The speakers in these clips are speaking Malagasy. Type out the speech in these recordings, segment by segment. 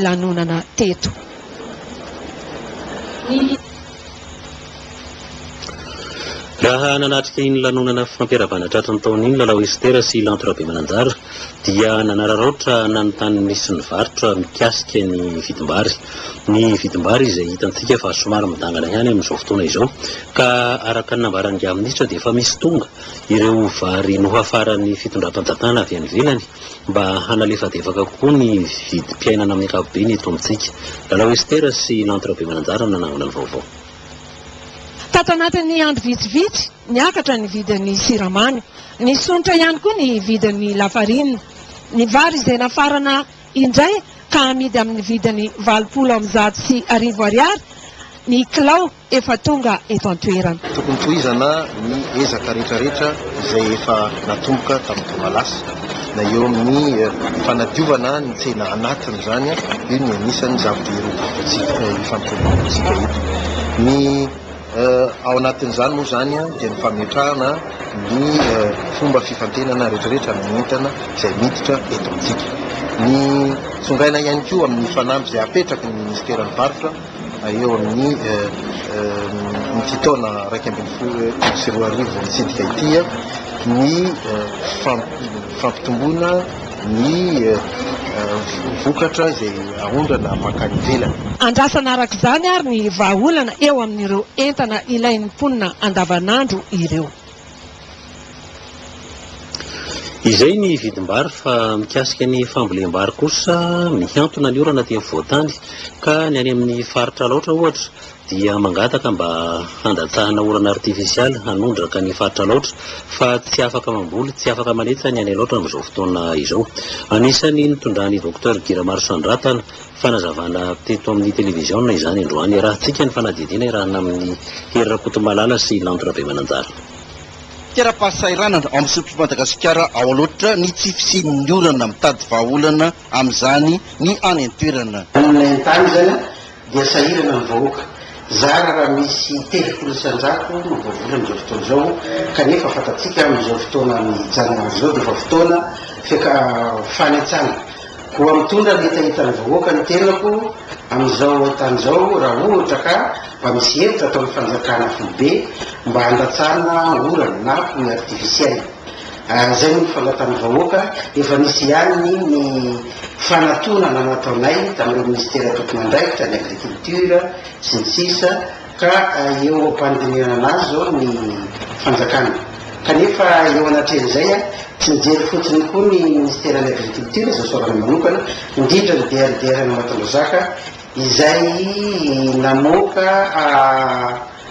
lanonana teto. Raha nanatrika iny lanonana fampiarabana tratry ny taona iny Lalao Esther sy Lanto Rabemananjara dia nanararaotra nanontany nisy ny varotra mikasika ny vidim-bary. Ny vidim-bary izay hitantsika fa somary midangana ihany amin'izao fotoana izao ka araka ny nambaran'ingahy minisitra dia efa misy tonga ireo vary nohafaran'ny fitondram-panjakana avy any ivelany. mba hanalefadefaka kokoa ny vidim-piainana amin'ny ankapobeny eto amintsika. Lalao Ester sy Lanto Rabemananjara no nanangona ny vaovao. Tato anatin'ny andro vitsivitsy, niakatra ny vidin'ny siramamy. Nisonitra ihany koa ny vidin'ny lafarinina. Ny vary izay nafarana indray ka amidy amin'ny vidiny valopolo amby zato sy arivo ariary ny kilao. efa tonga eto an-toerana. Tokony tohizana ny ezaka rehetrarehetra izay efa natomboka tamin'ny taona lasa na eo amin'ny fanadiovana ny tsena anatiny izany, io no anisan'ny zava-dehibe votoatintsika ifampiroboroboantsika eto. Ny ao anatin'izany moa izany dia ny fametrahana ny fomba fifantenana rehetrarehetra amin'ny entana izay miditra eto amintsika. Ny tsongaina ihany koa amin'ny fanamby izay apetraky ny minisiteran'ny varotra. eo amin'ny ity taona iraika ambin'ny folo sy roa arivo mitsidika ity ny fampitomboana ny vokatra izay aondrana mankany ivelany. Andrasana araka izany ary ny vahaolana eo amin'ireo entana ilain'ny mponina andavanandro ireo. Izay ny vidim-bary fa mikasika ny fambolem-bary kosa mihantona ny orana aty afovoan-tany ka ny any amin'ny faritra Alaotra ohatra dia mangataka mba handatsahana orana artifisialy hanondraka ny faritra Alaotra fa tsy afaka mamboly, tsy afaka manetsa ny any Alaotra amin'izao fotoana izao. Anisan'ny nitondran'i Docteur Guy Ramarosanondratana fanazavana teto amin'ny televiziona izany androany. Iarahantsika ny fanadihadiana iarahana amin'i Hery Rakotomalala sy Lanto Rabemananjara. Tera-pahasahiranana ao amin'ny sotro'i Madagasikara ao Alaotra ny tsy fisian'ny orana mitady vahaolana amin'izany ny any an-toerana. Amin'ny haintany izany dia sahirana ny vahoaka. Zara raha misy telopolo isan-jato no voavola amin'izao fotoana izao kanefa fantatsika amin'izao fotoana mijanona izao dia efa fotoana fanentsana. Koa mitondra ny hitahitan'ny vahoaka ny tenako amin'izao haintany izao raha ohatra ka mba misy hevitra ataon'ny fanjakana foibe mba handatsana orana na pluie artificielle. Izay moa no fandatan'ny vahoaka, efa nisy ihany ny fanatonana nataonay tamin'ireo minisitera tompon'andraikitra, ny agriculture sy ny sisa, Ka eo am-panodinihana azy izao ny fanjakana. Kanefa eo anatrehan'izay, tsy mijery fotsiny koa ny Ministeran'ny Agriculture, izay soavany manokana, indrindra ny DRDR an'Ambatondrazaka, izay namoaka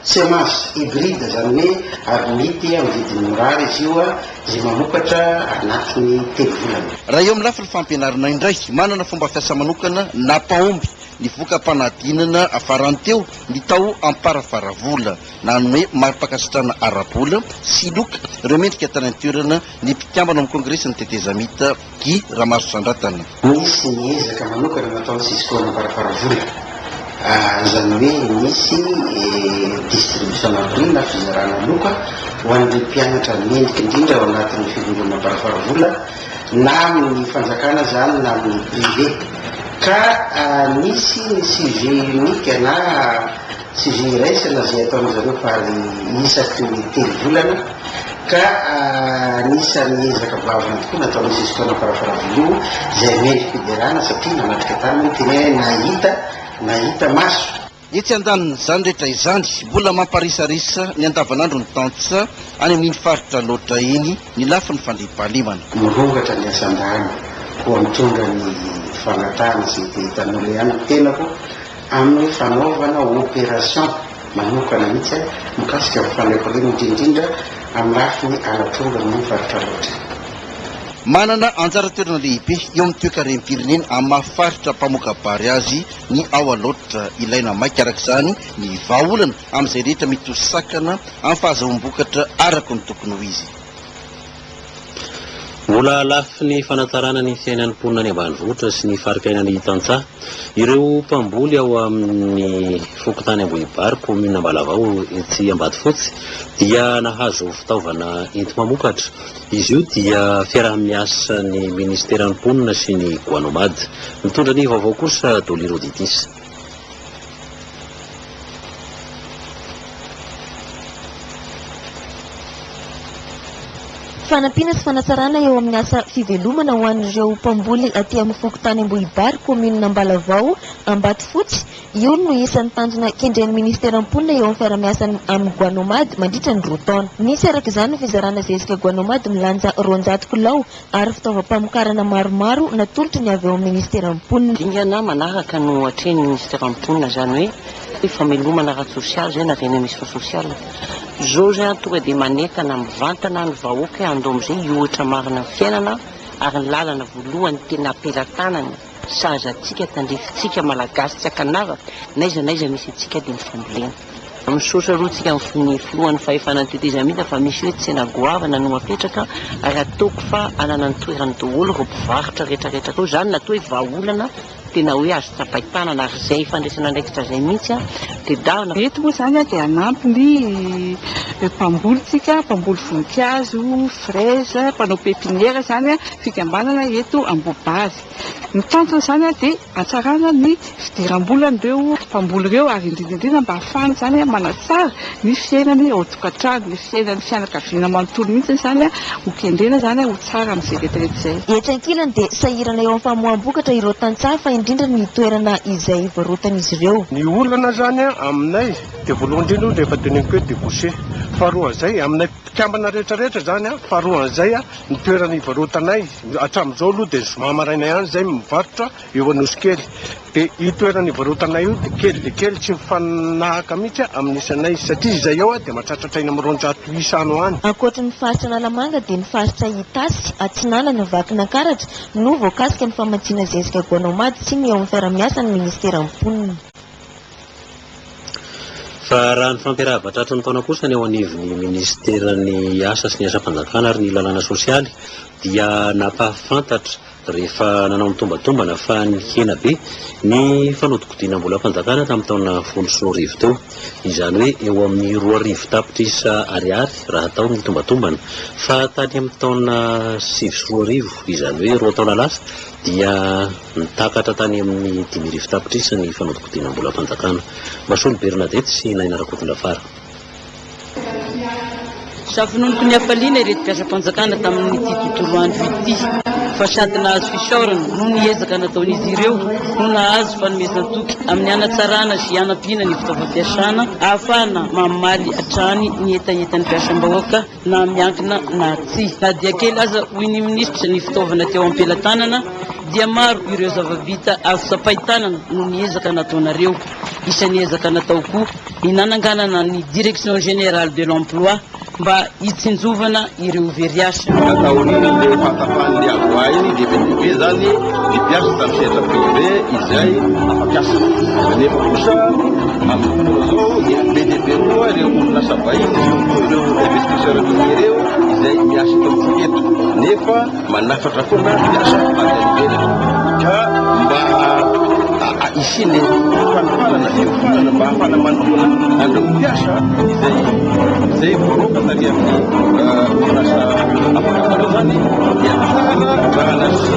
semences hybrides, izany hoe aromity amin'ny vidiny mirary izy io, izay mamokatra anatin'ny telo volana. Raha eo amin'ny lafiny fampianarana indray, manana fomba fiasa manokana na paomby ny voka-panadinana farany teo ny tao Amparafaravola. Nanome mari-pankasitrahana ara-bola sy loka ireo mendrika tany an-toerana ny mpikambana ao amin'ny Kongresin'ny Tetezamita, Guy Ramarotrandrantana. Nisy ny ezaka manokana nataon'ny Cisco an'Amparafaravola, izany hoe nisy distribution na prime na fizarana loka ho an'ireo mpianatra mendrika indrindra ao anatin'ny Filohan'Amparafaravola, na amin'ny fanjakana izany na amin'ny privé, ka misy ny sujet unique na sujet iraisana izay ataon'izy ireo par isaky ny telo volana, ka anisan'ny ezaka goavana tokoa nataon'i Jesco namparafaravilo izay mendri-piderana satria nanatrika tany moa ny teny hoe nahita, nahita maso. Etsy andanin'izany rehetra izany, mbola mamparisarisa ny andavanandron'ny tantsa any amin'iny faritra loatra iny ny lafiny fandriampahalemana. Mirongatra ny asan-drano, koa mitondra ny fangatahana izay te hitan'olona ihany ny tenako amin'ny fanaovana opération manokana mihitsy mikasika ny fandriampahalemana indrindrindra amin'ny lafiny halatr'omby amin'iny faritra loatra iny. Manana anjara toerana lehibe eo amin'ny toekarem-pirenena amin'ny maha faritra mpamoka-bary azy ny ao Alaotra. Ilaina maika araka izany ny vahaolana amin'izay rehetra mety ho sakana amin'ny fahazahoam-bokatra araka ny tokony ho izy. Mbola lafiny fanatsarana ny fiainan'ny mponina any ambanivohitra sy ny faritainan'ny tantsaha ireo mpamboly ao amin'ny fokontany Ambohibary, kaominina Ambalavao etsy Ambatofotsy dia nahazo fitaovana enti-mamokatra. Izy io dia fiaraha-miasa ny Ministeran'ny Mponina sy ny Guanomad. Mitondra ny vaovao kosa Dolly Roditis. Fanampiana sy fanatsarana eo amin'ny asa fivelomana ho an'ireo mpamboly aty amin'ny fokontany Ambohibary, kaominina Ambalavao, Ambatofotsy, Io no isan'ny tanjona kendren'ny Minisitera mponina eo amin'ny fiarahamiasany amin'i Guanomad mandritra ny roa taona. Misy araka izany ny fizarana zezika Guanomad milanja roanjato kilao ary fitaovam-pamokarana maromaro natolotry ny avy ao amin'ny Minisitera mponina. Dingana manaraka no atrehin'ny Minisitera mponina izany hoe hoe famelomana ara-tsosialy izay na renemission sociale. Izao izany tonga dia manentana mivantana ny vahoaka hoe handao amin'izay hihoatra marina ny fiainana ary ny lalana voalohany tena am-pelatanany, Sahaza antsika tandrifintsika Malagasy tsy an-kanavaka, n'aiza n'aiza misy antsika dia ny fambolena. Misaotra aloha antsika amin'ny filohan'ny fahefana ny tetezamita fa misy hoe tsena goavana no apetraka ary ataoko fa hanana ny toerany daholo ireo mpivarotra retraretra atao izany na toa hoe vahaolana tena hoe azo tsapain-tanana ary izay fandraisana andraikitra izay mihitsy tedavina Eto moa izany dia hanampy ny mpamboly tsika, mpamboly voninkazo. Fraise, mpanao pepiniera izany fikambanana eto Ambohibary. Ny tanjona izany dia hatsarana ny fidiram-bolan'ireo mpamboly ireo ary indrindra indrindra mba hahafahana izany manatsara ny fiainany ao an-tokantrano, ny fiainan'ny fianakaviana manontolo mihitsy izany ho kendrena izany ho tsara amin'izay rehetrarehetra izay. Etsy ankilany dia sahirana eo amin'ny famoaham-bokatra ireo tantsaha fa indrindra ny toerana izay varotan'izy ireo. Ny olana izany aminay dia voalohany indrindra aloha rehefa teneniko hoe débouché. Faharoa izay, aminay Mpikambana rehetra rehetra izany a, faharoa an'izay a, ny toerana ivarotanay hatramin'izao aloha dia zoma maraina ihany izay mivarotra eo Anosikely, dia io toerana ivarotanay io dia kely dia kely tsy mifanahaka mihitsy a amin'ny isanay satria izay ao a dia mahatratratra eny amin'ny roanjato isa any ho any. Ankoatry ny faritra Analamanga dia ny faritra Itasy, Atsinanana, Vakinankaratra no voakasika ny famatsiana zezika goanaomady sy ny eo amin'ny fiarahamiasa ny ministeran'ny mponina. Fa raha ny fampiarahaba tratry ny taona kosa ny eo anivon'ny minisiteran'ny asa sy ny asam-panjakana ary ny lalàna sosialy dia nampahafantatra rehefa nanao ny tombatombana fa nihena be ny fanodikodinam-bolam-panjakana tamin'ny taona folo sy roa arivo teo. Izany hoe eo amin'ny roa arivo tapitrisa ariary raha hatao ny tombatombana fa tany amin'ny taona sivy sy roa arivo izany hoe roa taona lasa dia Nitakatra tany amin'ny dimy arivo tapitrisa ny fanodinkodinam-bolam-panjakana. Masolo Bernadette sy Naina Rakotondrafara. Safononoky ny hafaliana ireto mpiasam-panjakana tamin'ity tontolo andro ity fa sady nahazo fisaorana noho ny ezaka nataon'izy ireo no nahazo fanomezan-toky amin'ny hanatsarana sy hanampiana ny fitaovam-piasana ahafahana mamaly hatrany ny hetahetan'ny mpiasam-bahoaka na miankina na tsia. Na dia kely aza, hoy ny minisitra, ny fitaovana teo am-pelatanana, dia maro ireo zava-bita azo tsapain-tanana noho ny ezaka nataonareo. Isan'ny ezaka natao koa ny nananganana ny Direction Générale de l'Emploi mba hitsinjovana ireo very asa. Taorian'ilay fahatapahan'ny ady ho ahy, dia be dia be izany. ny mpiasa tamin'ny sehatra privé izay afa-piasa. Nefa kosa amin'ny fotoana izao dia be dia be koa ireo orinasa vahiny sy ihany koa ireo investisseurs miniers ireo izay miasa eto amintsika eto nefa manafatra foana mpiasa avy any ivelany. Ka mba hisian'ny fanofanana, fiofanana mba hahafahana manoloana an'ireo mpiasa izay izay voaroaka tany amin'ny orinasa afa-piasana izany dia tsara raha nasi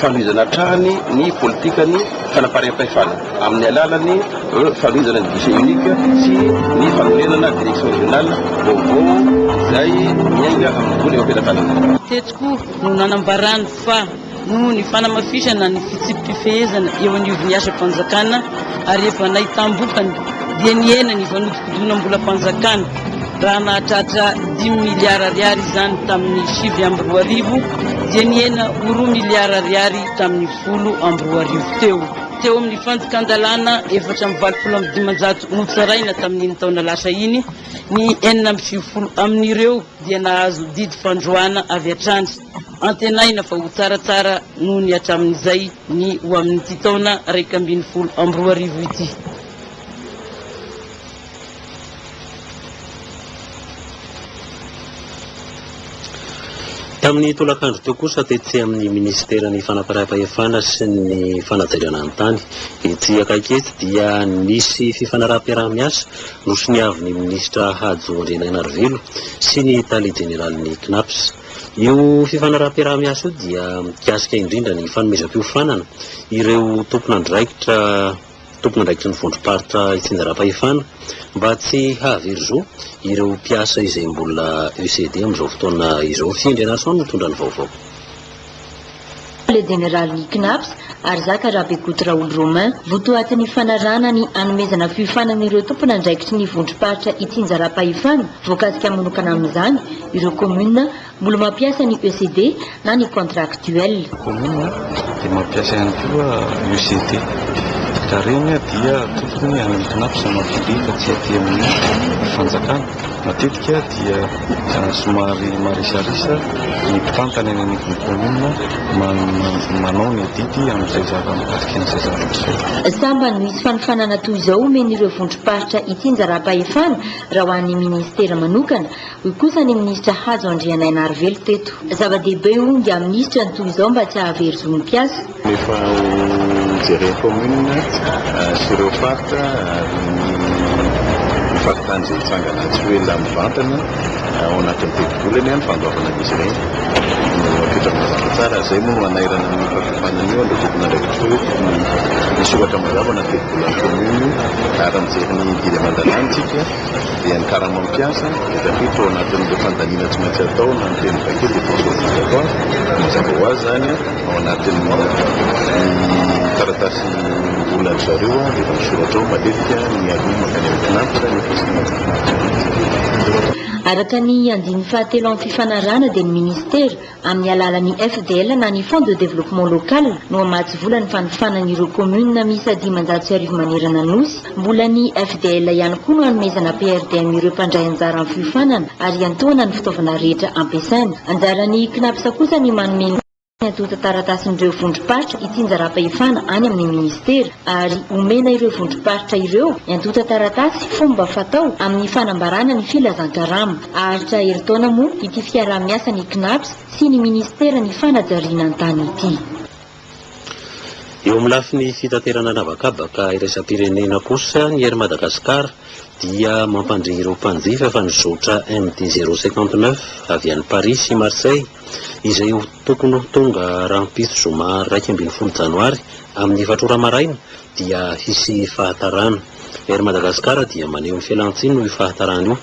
fanohizana hatrany ny politikan'ny fanampariam-pahefana amin'ny alalan'ny fanohizana ny guichet unique sy ny fanorenana direction régionale vaovao izay miainga amin'ny vola eo am-pelatanana. Teto koa no nanambarany fa noho ny fanamafisana ny fitsipi-pifehezana eo anivon'ny asam-panjakana ary efa nahitam-bokany dia nihena ny fanodinkodinam-bolam-panjakana. Raha nahatratra dimy miliara ariary izany tamin'ny sivy amby roa arivo dia nihena ho roa miliara ariary tamin'ny folo amby roa arivo teo. Teo amin'ny fandikan-dalàna efatra amby valopolo amby dimanjato notsaraina tamin'iny taona lasa iny, ny enina amby sivifolo amin'ireo dia nahazo didy fandroahana avy hatrany. Antenaina fa ho tsaratsara noho ny hatramin'izay ny ho amin'ity taona iraika ambin'ny folo amby roa arivo ity. Tamin'ny tolakandro teo kosa tetsy amin'ny minisiteran'ny fanaparam-pahefana sy ny fanajariana ny tany, etsy akaiky etsy dia nisy fifanaraham-piaraha-miasa nosoniavin'ny minisitra Hajo Andrianainarivelo sy ny tale jeneralin'ny Cnaps. Io fifanaraham-piaraha-miasa io dia mikasika indrindra ny fanomezam-piofanana ireo tompon'andraikitra tompon'andraikitry ny vondrom-paritra itsinjaram-pahefana mba tsy hahavery zo ireo mpiasa izay mbola ECD amin'izao fotoana izao. Fy Andrianarison no mitondra ny vaovao. Le Jeneraly ny Cnaps, Harizaka Rabekoto Raoly Romain, votoaty ny fanarahana ny hanomezana fiofanana ireo tompon'andraikitry ny vondrom-paritra itsinjaram-pahefana voakasika manokana amin'izany ireo kaominina Mbola mampiasa ny ECD na ny contractuel. Commune dia mampiasa ihany koa ECD. Raha ireny dia tokony hanintona mpizamatoa be fa tsy aty amin'ny fanjakana. Matetika dia somary marisarisa ny mpitantana eny anivon'ny commune man- manao ny adidy amin'izay zava mikasika an'izay zava-pisotro. Sambany misy fanofanana toy izao omen'ireo vondrom-paritra ity njarampahefana raha ho an'ny ministera manokana, Hoy kosa ny minisitra Hajo Andrianainarivelo teto. Zava-dehibe hoy ny minisitra ny toy izao mba tsy hahavery zo ny mpiasa. Rehefa hojeren'ny commune sy ireo faritra ary ny faritany izay hitsangana tsy ho ela mivantana ao anatin'ny tetibola anie ny fandoavana an'izy ireny no apetraka mazava tsara ary izay moa no hanairana an'io fahakimpana an'io amin'ireo tompon'andraikitra ireo ny soratra mandoavana ny tetibolan'ny commune ary mijery ny didy aman-dalàna isika. dia ny karamam-piasa dia tafiditra ao anatin'ireo fandaniana tsy maintsy atao na ny teny vaky dia pension obligatoire, mazava ho azy izany ao anatin'ny taratasy olan'ny zareo dia efa misoratra ao matetika ny aloha mankany amin'ny CNAPS nefa tsy maintsy CNAPS mihitsy. Araka ny andininy fahatelo amin'ny fifanarahana dia ny Ministera Amin'ny alalan'ny FDL na ny Fonds de Développement Local no hamatsy vola ny fanofanana ireo communes miisa dimanjato sy arivo manerana Anosy. Mbola ny FDL ihany koa no hanomezana PRDM ireo mpandray anjara amin'ny fiofanana ary hiantohana ny fitaovana rehetra ampiasaina. Anjaran'ny Cnaps kosa ny manome ny antontan-taratasin'ireo vondrom-paritra hitsinjaram-pahefana any amin'ny Ministera ary omena ireo vondrom-paritra ireo ny antontan-taratasy fomba fatao amin'ny fanambarana ny filazankarama. Haharitra herintaona moa ity fiaraha-miasan'ny Cnaps sy ny minisiteran'ny fanajariana ny tany ity. Eo amin'ny lafiny fitaterana an'habakabaka iraisam-pirenena kosa ny Air Madagascar dia mampandre ireo mpanjifa fa ny zotra MD zero cinquante neuf avy any Paris sy Marseille izay ho tokony ho tonga rahampitso zoma iraika ambin'ny folo janoary amin'ny efatra ora maraina dia hisy fahatarana. Air Madagascar dia maneho ny fialantsiny noho io fahatarana io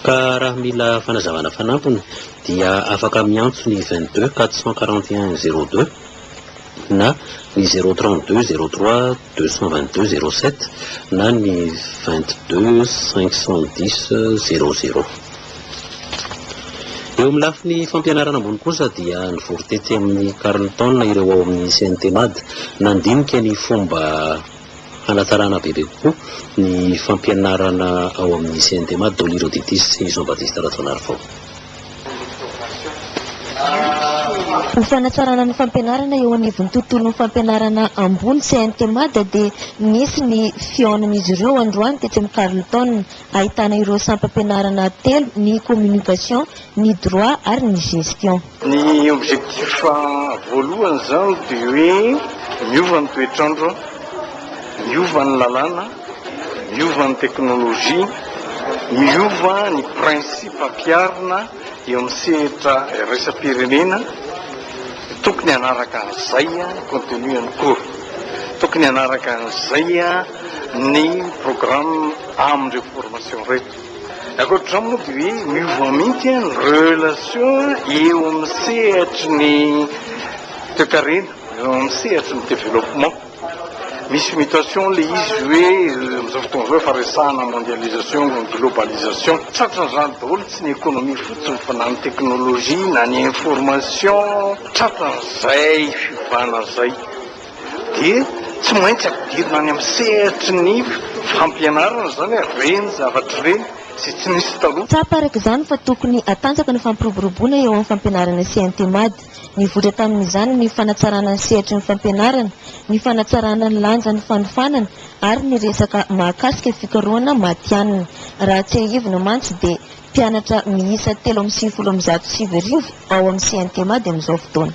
ka raha mila fanazavana fanampiny dia afaka miantso ny vingt deux quatre cent quarante et un zéro deux na ny zéro trente deux zéro trois deux cent vingt deux zéro sept na ny vingt deux cinq cent dix zéro zéro. Eo amin'ny lafiny fampianarana ambony kosa dia nivory tetsy amin'ny Carlton ireo ao amin'ny CNTMAD. Nandinika ny fomba hanatsarana bebe kokoa ny fampianarana ao amin'ny CNTMAD daholo ireo ditisy sy Jean Baptiste Rajaonarivao. Ho fanatsarana ny fampianarana eo anivon'ny tontolon'ny fampianarana ambony CNTMAD dia nisy ny fihaonan'izy ireo androany tetsy amin'ny Carlton. Ahitana ireo sampam-pianarana telo, ny communication, ny droit ary ny gestion. Ny objectif voalohany izany dia hoe miova ny toetr'andro, miova ny lalàna, miova ny technologie, miova ny principe ampiharina. Eo amin'ny sehatra iraisam-pirenena, tokony hanaraka an'izay ny contenu an'ny cours, tokony hanaraka an'izay ny programme amin'ireo formation ireto. Ankoatr'izany moa dia hoe miova mihitsy ny relation eo amin'ny sehatry ny toekarena, eo amin'ny sehatry ny développement. Misy mutation ilay izy hoe amin'izao fotoana izao efa resahana mondialisation, globalisation. Tratran'izany daholo, tsy ny économie fotsiny fa na ny technologie na ny information. Tratran'izay fiovana izay dia tsy maintsy ampidirina any amin'ny sehatry ny fampianarana izany ireny zavatra ireny izay tsy nisy taloha. Tsapa araka izany fa tokony hatanjaka ny fampiroboroboana eo amin'ny fampianarana sy Intemad. Nivoitra tamin'izany ny fanatsarana ny sehatry ny fampianarana, ny fanatsarana ny lanjan'ny fanofanana ary ny resaka mahakasika fikarohana matihanina. Raha tsiahivina mantsy dia mpianatra miisa telo amby sivifolo amin'ny zato sy sivy arivo ao amin'ny CNTMAD amin'izao fotoana.